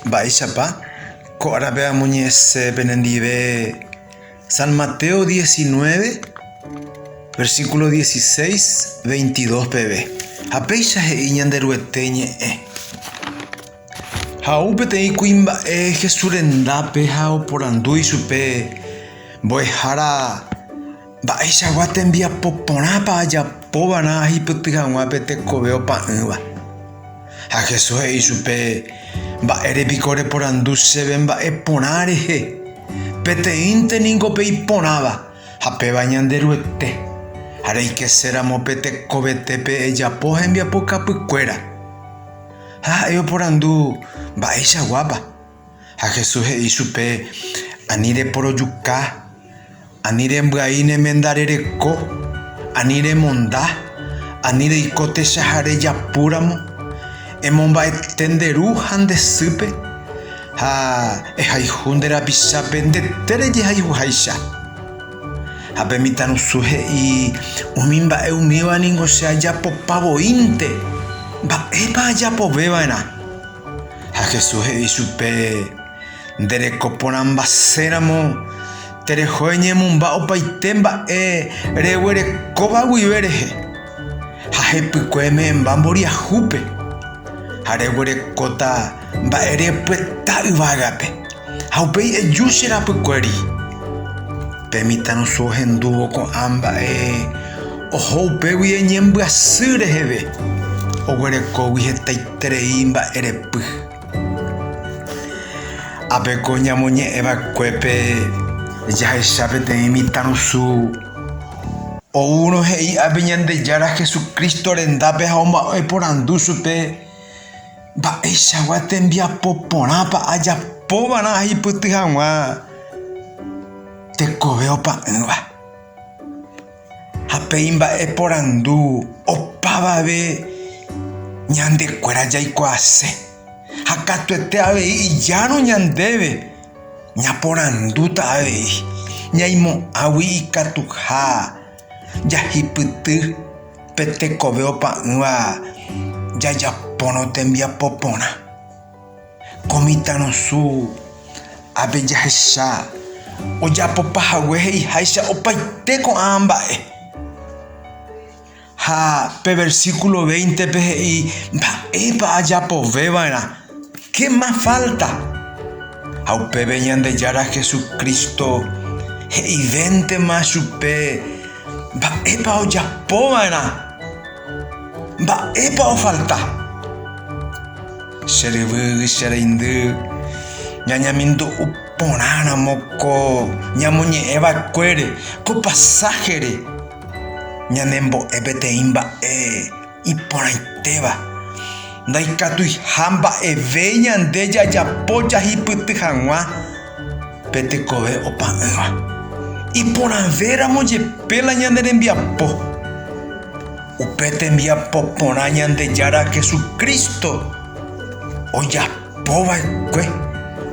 Mba'éichapa ko árape amoñe'ẽse penendive? San Mateo 19, versíkulo 16, 22 peve. Ha péicha he'i Ñanderuete ñe'ẽ, Ha'u peteĩ kuimba'e Jesús rendápe ha oporandu ichupe mbo'ehára, Mba'eichagua tembiapo porãpa ajapova'erã ahipyty hag̃ua pe tekove opa'ỹva? Ha Jesús he'i chupe, Mba'ére piko reporandu chéve mba'e porã rehe? Peteĩnte ningo pe iporãva, ha péva Ñanderuete, ha reikeséramo pe tekovetépe ejapo hembiapokapykuéra. Ha ha'e oporandu, Mba'eichaguápa? Ha Jesús he'i chupe, Ani reporojuka, ani rembyai ne menda rereko, ani remonda, ani reiko techaha rejapu ramo, emomba'ete nde ru ha nde sýpe, ha ehayhu nde rapichápe ndetére jehayhuháicha. Ha pe mitãrusu he'i, Umi mba'e umíva ningo che ajapopa voínte, mba'épa ajapove va'erã? Ha Jesús he'i chupe, Nde reko porãmbase ramo, tereho eñemomba opaite mba'e reguerekóva guive rehe, ha hepykue eme'ẽmba mboriahúpe, ha reguerekóta mba'e repueta yvágape. Ha upéi eju che rapykuéri, Pe mitãrusu ohendúvo ko'ã mba'e oho upégui eñembyasy reheve, oguerekógui hetaiterei mba'erepy. Ápe ko ñamoñe'ẽ va'ekuépe jahecha peteĩ mitãrusu oúrõ he'i ápe Ñandejára Jesucristo rendápe ha omba'eporandu chupe, Mba'eichagua tembiapo porãpa ajapova'erã aipyty hag̃ua tekove opa'ỹva? Ha pe imba'e porandu opavave ñande kuéra jaikuaase, ha katuete avei ijárõ ñandéve ñaporandúta avei, ñaimo'ãgui ikatuha. jahipyty pe tekove opa'ỹva jajapórõ tembiapo porã. Ko mitãrusu ápe jahecha ojapopa hague he'iháicha opaite ko'ã mba'e. Ha pe versíkulo véintepe he'i mba'épa ajapove va'erã. Che más falta. Ha upéve Ñandejára Jesucristo he'ivéntema chupe mba'épa ojapova'erã, mba'épa ofalta. Che ryvy, che reindy, ñañemindu'u porãramo ko ñamoñe'ẽ va'ekuére ko pasáhere, ñanembo'e peteĩ mba'e. Iporãitéva, ndaikatuiha mba'eve ñande jajapo jahipyty hag̃ua pe tekove opa'ỹva. Iporãvéramo jepe la ñane rembiapo, upe tembiapo porã Ñandejára Jesucristo ojapova'ekue,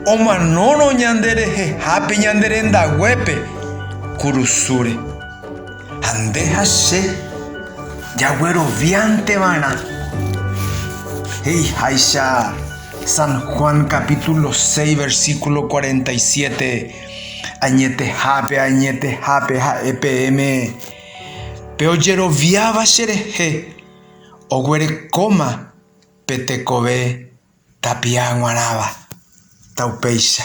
omanórõ ñanderehehápe ñande rendaguépe kurusúre. Ha nde ha che jagueroviánteva'erã, he'iháicha San Juan capítulo 6 versículo 47, añetehápe ha añetehápe ha'e peẽme, Pe ojeroviáva cherehe oguerekóma pe tekove tapia g̃uarãva, ta upéicha.